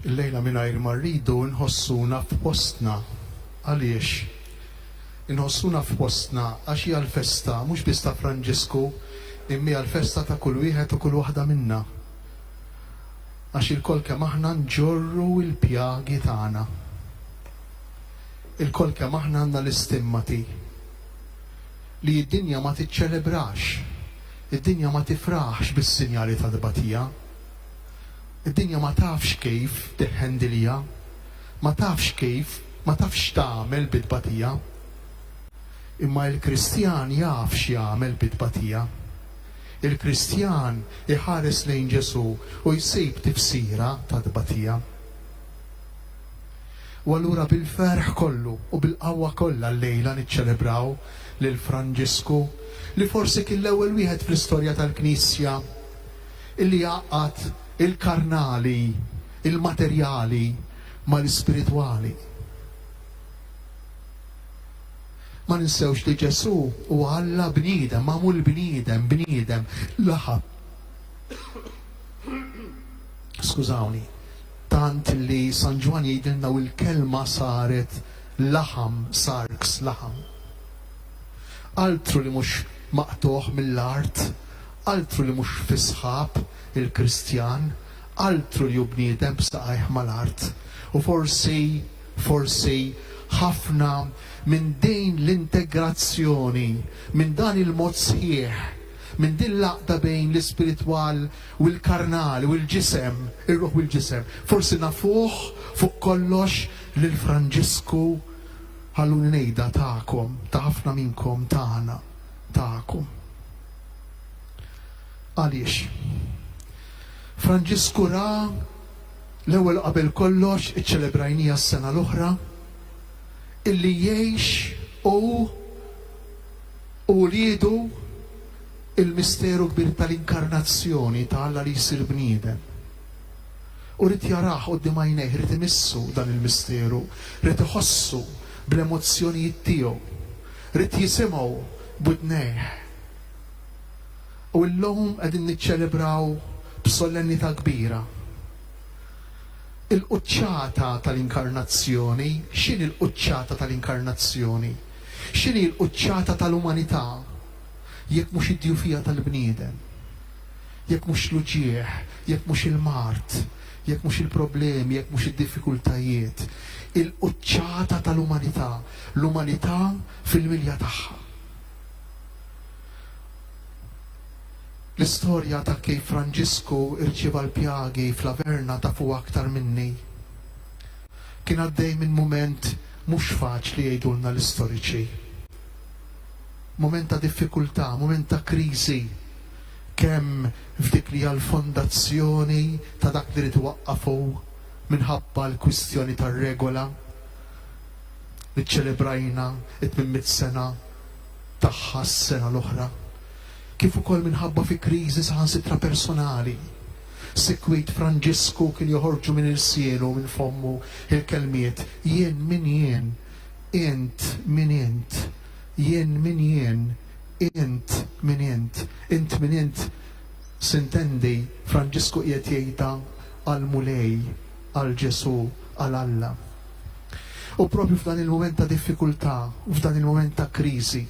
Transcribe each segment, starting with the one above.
Illejla mingħajr ma rridu nħossuna f'postna. Għaliex? Inħossuna f'postna għax hija l-festa mhux biss ta' Franġisku imma hija l-festa ta' kull wieħed u kull waħda minna. Għax ilkoll kemm aħna nġorru l-pjagi tagħna. Ilkoll kemm aħna għandna l-istimmati li d-dinja ma tiċċelebrax, id-dinja ma tifraħx bis-sinjali tat-tbatija. Id-dinja ma tafx kif tiħħendilha, ma tafx kif, ma tafx x'tagħmel bit-tbatija. Imma il-Kristjan jaf x'jagħmel bit-tbatija. Il-Kristjan iħares lejn Ġesù u jsib tifsira tat-tbatija. U allura bil-ferħ kollu u bil-qawwa kollha llejla niċċelebraw lil Franġisku, li forsi kien l-ewwel wieħed fl-istorja tal-Knisja, li jgħaqqad il-karnali, il-materjali, mal-ispiritwali. Ma ninsewx li Ġesù huwa Alla bniedem, magħmul bniedem, bniedem, laħa. Skużawni, tant li San Ġwann jgħidilna u l-kelma saret laħam, sarx, laħam. Altru li mhux maqtugħ mill-art, Altru li mhux fi sħab il-Kristjan, altru li hu bniedem b'saqajh mal-art. U forsi, forsi, ħafna minn din l-integrazzjoni, minn dan il-mod sħiħ, minn din l-għaqda bejn l-ispiritwal u l-karnali u l-ġisem, ir-ruħ u l-ġisem, forsi nafuh fuq kollox lil Franġisku, ħalluni ngħidha, tagħkom, ta' ħafna minnkom, tagħna, tagħkom. Għaliex? Franġisku ra l-ewwel qabel kollox, iċċelebrajniha s-sena l-oħra, illi jgħix hu u wliedu l-misteru kbir tal-inkarnazzjoni ta' Alla li jsir bniedem. U rrid jarah quddiem għajnejh, rrid imissu dan il-misteru, rrid iħossu bl-emozzjonijiet tiegħu, rrid jisimgħu b'widnejh. U llum qegħdin niċċelebraw b'solennità kbira il-quċċata tal-Inkarnazzjoni. X'inhi l-quċċata tal-Inkarnazzjoni? X'inhi l-quċċata tal-umanità jekk mhux id-djufija tal-bniedem? Jekk mhux l-uġigħ, jekk mhux il-mard, jekk mhux il-problemi, jekk mhux id-diffikultajiet. Il-quċċata tal-umanità, l-umanità fil-milja tagħha. L-istorja ta' kif Franġisku rċieva l-pjagi fl-Averna tafuha aktar minni. Kien għaddej minn mument mhux faċli jgħidulna l-istoriċi. Mument ta' diffikultà, mument ta' kriżi, kemm f'dik li hija l-fondazzjoni ta' dak li ried iwaqqaf hu minħabba l-kwistjoni tar-regola, Iċċelebrajna t-tmien mitt sena tagħha s-sena l-oħra, kif ukoll minħabba fi kriżi saħansitra personali, sikwit Franġisku kien joħorġu minn irsielu u minn fommu l-kelmiet, Jien min jien? Int min int? Jien min jien? Int min int? Int min int? Sintendi, Franġisku qiegħed jgħidha għall-Mulej. għal Ġesù, għal Alla. U proprju f'dan il-mument ta' diffikultà, f'dan il-mument ta' kriżi,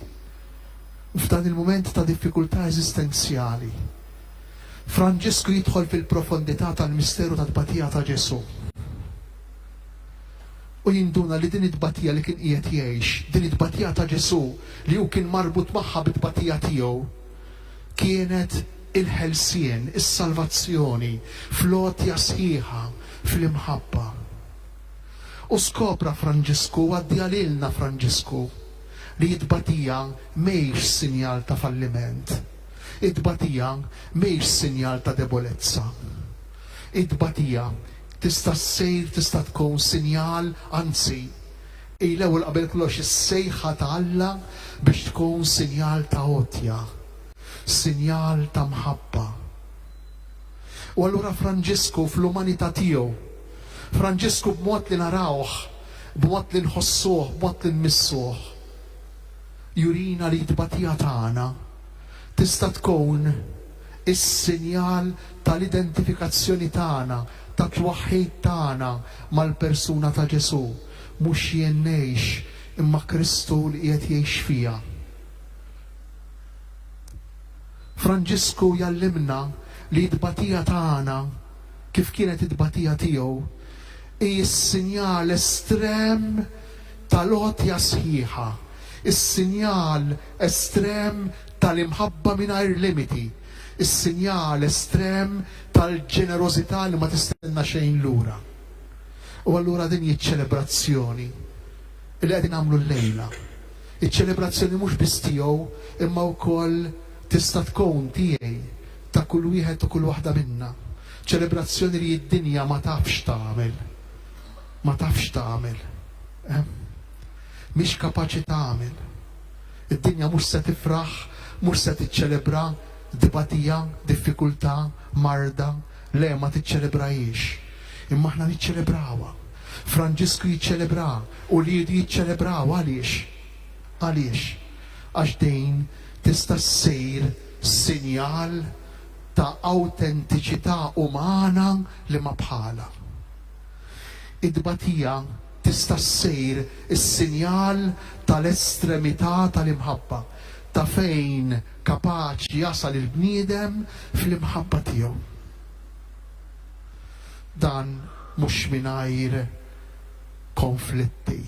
f'dan il-mument ta' diffikultà eżistenzjali, Franġisku jidħol fil-profondità tal-misteru tat-tbatija ta' Ġesù. U jinduna li din it-tbatija li kien qiegħed jgħix, din it-tbatija ta' Ġesù li hu kien marbut magħha bit-tbatija tiegħu, kienet il-ħelsien, is-salvazzjoni, fl-għotja sħiħa, fl-imħabba. U skopra Franġisku, u għaddieha lilna Franġisku, li t-tbatija mhijiex sinjal ta' falliment. It-tbatija mhijiex sinjal ta' debolezza. It-tbatija tista' ssir, tista' tkun sinjal, anzi, Hi l-ewwel qabel kollox is-sejħa ta' Alla biex tkun sinjal ta' għotja, sinjal ta' mħabba. U allura Franġisku fl-umanità tiegħu, Franġisku b'mod li narawh, b'mod li nħossuh, b'mod li nmissuh, jurina li t-tbatija tagħna tista' tkun is-sinjal tal-identifikazzjoni tagħna, tat-twaħħid tagħna mal-persuna ta' Ġesù. Mhux jien ngħix, imma Kristu li qiegħed jgħix fija. Franġisku jgħallimna li t-tbatija ta' Għana, kif kienet it-tbatija tiegħu, hi s-sinjal estrem tal-għotja sħiħa, is-sinjal estrem tal-imħabba mingħajr limiti, is-sinjal estrem tal-ġenerożità li ma tistenna xejn lura. U allura din hi ċ-ċelebrazzjoni li qegħdin nagħmlu llejla. Iċ-ċelebrazzjoni mhux biss tiegħu imma wkoll tista' tkun tiegħi, ta' kull wieħed u kull waħda minna. Ċelebrazzjoni li d-dinja ma tafx tagħmel. Ma tafx tagħmel. Eh? Mhix kapaċi tagħmel. Id-dinja mhux se tifraħ, mhux se tiċċelebra dbatija, diffikultà, marda, Le, ma tiċċelebrahiex. Imma aħna niċċelebrawha. Franġisku jiċċelebraha, uliedu jiċċelebrawha. Għaliex? Għaliex? Għax din tista' ssir sinjal ta' awtentiċità umana li ma bħalha. It-tbatija tista' ssir is-sinjal tal-estremità tal-imħabba, ta' fejn, Kapaċi jasal il-bniedem fl-imħabba tiegħu. Dan mhux mingħajr konflitti.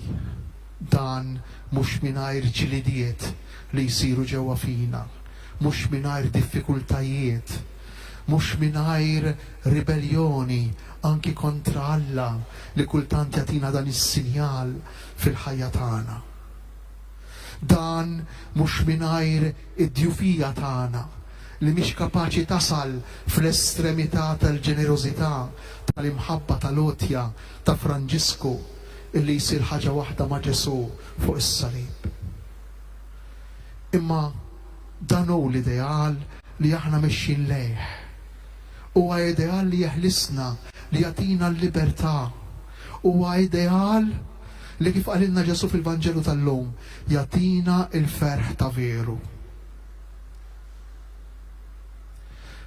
Dan mhux mingħajr ġlidiet li jsiru ġewwa fina. Mhux mingħajr diffikultajiet. Mhux mingħajr ribelljoni anki kontra Alla li kultant jagħtina dan is-sinjal fil-ħajja tagħna. Dan mhux mingħajr id-djufija tagħna, li mhix kapaċi tasal fl-estremità tal-ġenerożità, tal-imħabba tal-għotja ta' Franġisku li jsir ħaġa waħda ma' Ġesù fuq is-salib. Imma dan hu l-ideal li aħna mexjin lejh. Huwa ideal li jeħlisna, li jagħtina l-libertà. Huwa ideal. li kif qalilna Ġesù fil-Vanġelu tal-lum, jagħtina l-ferħ ta' veru.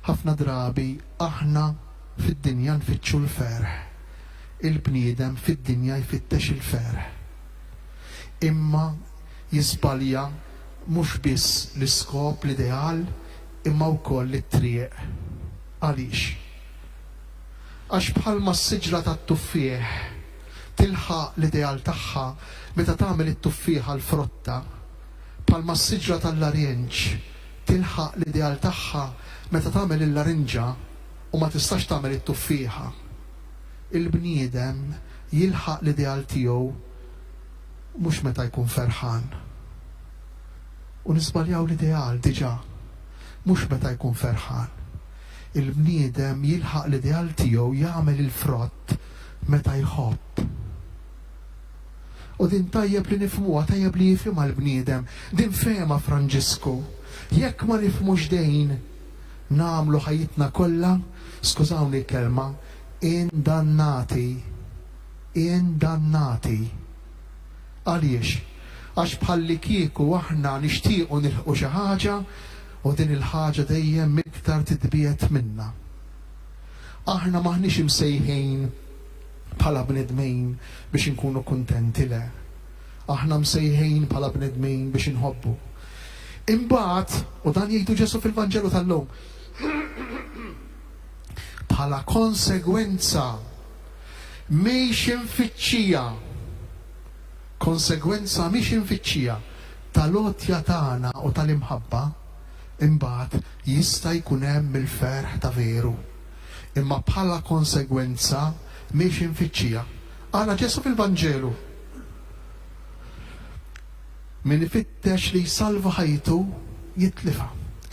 Ħafna drabi aħna fid-dinja nfittxu l-ferħ. Il-bniedem fid-dinja jfittex il-ferħ. Imma jiżbalja mhux biss l-iskop, l-ideal, imma wkoll it-triq. Għaliex? Għax bħalma s-siġra tat-tuffieħ, tilħaq l-ideal tagħha meta tagħmel it-tuffieħa l-frotta, bħalma s-siġra tal-larjenġ tilħaq l-ideal tagħha meta tagħmel il-larinġa u ma tistax tagħmel it-tuffieħa. Il-bniedem jilħaq l-ideal tiegħu mhux meta jkun ferħan. U niżbaljaw l-ideal diġà, mhux meta jkun ferħan. Il-bniedem jilħaq l-ideal tiegħu jagħmel il-frott meta jħobb. U din tajjeb li nifhmuha, tajjeb li jifhimha l-bniedem. Din fehemha Franġisku. Jekk ma nifhmux din, nagħmlu ħajjitna kollha, skużawni l-kelma, indannati. Indannati. Għaliex? Għax bħallikieku aħna nixtiequ nilħqu xi ħaġa u din il-ħaġa dejjem iktar titbiegħed minna. Aħna m'aħniex imsejħin bħala bnedmin biex inkunu kuntenti, le. Aħna msejħin bħala bnedmin biex inħobbu. Imbagħad, u dan jgħidu Ġesù fil-Vanġelu tal-lum, bħala konsegwenza mhix imfittxija, konsegwenza mhix imfittxija tal-għotja tagħna u tal-imħabba, imbagħad jista' jkun hemm il-ferħ ta' veru. Imma bħala konsegwenza mhiex imfittxija. Ara Ġesù fil-Vanġelu. Min ifittex li jsalva ħajtu, jitlifha.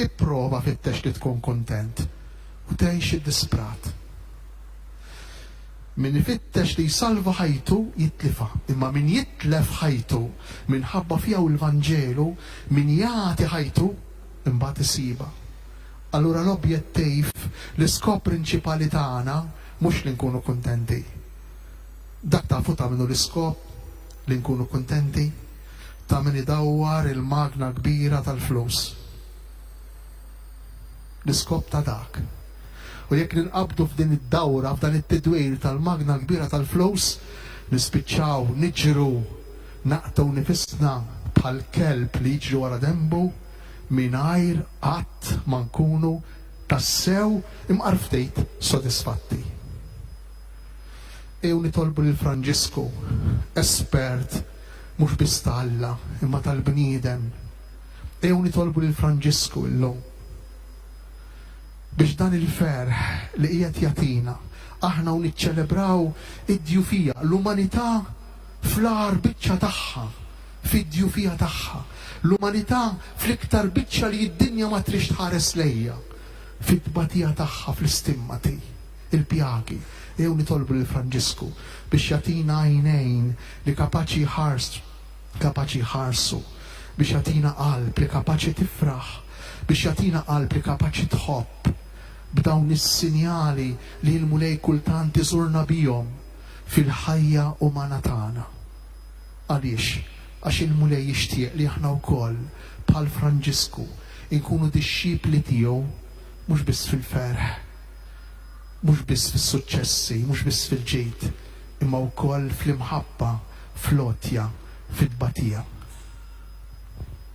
Ipprova fittex li tkun kuntent u tgħix id-disprat. Min ifittex li jsalva ħajtu, jitlifha, imma min jitlef ħajtu minħabba fija u l-Vanġelu, min jagħti ħajtu, imbagħad isibha. Allura l-objettiv, l-iskop prinċipali tagħna mhux li nkunu kuntenti. Dak tafu ta' min hu l-iskop? Li nkunu kuntenti? Ta' min idawwar il-magna kbira tal-flus. l-iskop ta' dak. U jekk ninqabdu f'din id-dawra, f'dan it-tidwir tal-magna kbira tal-flus, nispiċċaw niġru, naqtgħu nifisna bħal kelb li jiġri wara denbu, mingħajr qatt ma nkunu tassew imqarftit sodisfatti. Ejjew nitolbu lil Franġisku, espert mhux biss ta' Alla, imma tal-bniedem, Ejjew nitolbu lil Franġisku illum biex dan il-ferħ li qiegħed jagħtina aħna u niċċelebraw id-djufija, l-umanità fl-agħar biċċa tagħha, fid-djufija tagħha, l-umanità fl-iktar biċċa li d-dinja ma tridx tħares lejha, fit-tbatija tagħha fl-istimmati, il-pjagi. Ejjew nitolbu lil Franġisku biex jagħtina għajnejn li kapaċi jħarst kapaċi jħarsu, biex jagħtina qalb li kapaċi tifraħ, biex jagħtina qalb li kapaċi tħobb, b'dawn is-sinjali li l-Mulej kultant iżurna bihom fil-ħajja umana tagħna. Għaliex? Għax il-Mulej jixtieq li aħna wkoll, bħal Franġisku, inkunu dixxipli tiegħu mhux biss fil-ferħ, mhux biss fis-suċċessi, mhux biss fil-ġid, imma wkoll fl-imħabba, fl-għotja, fit-tbatija.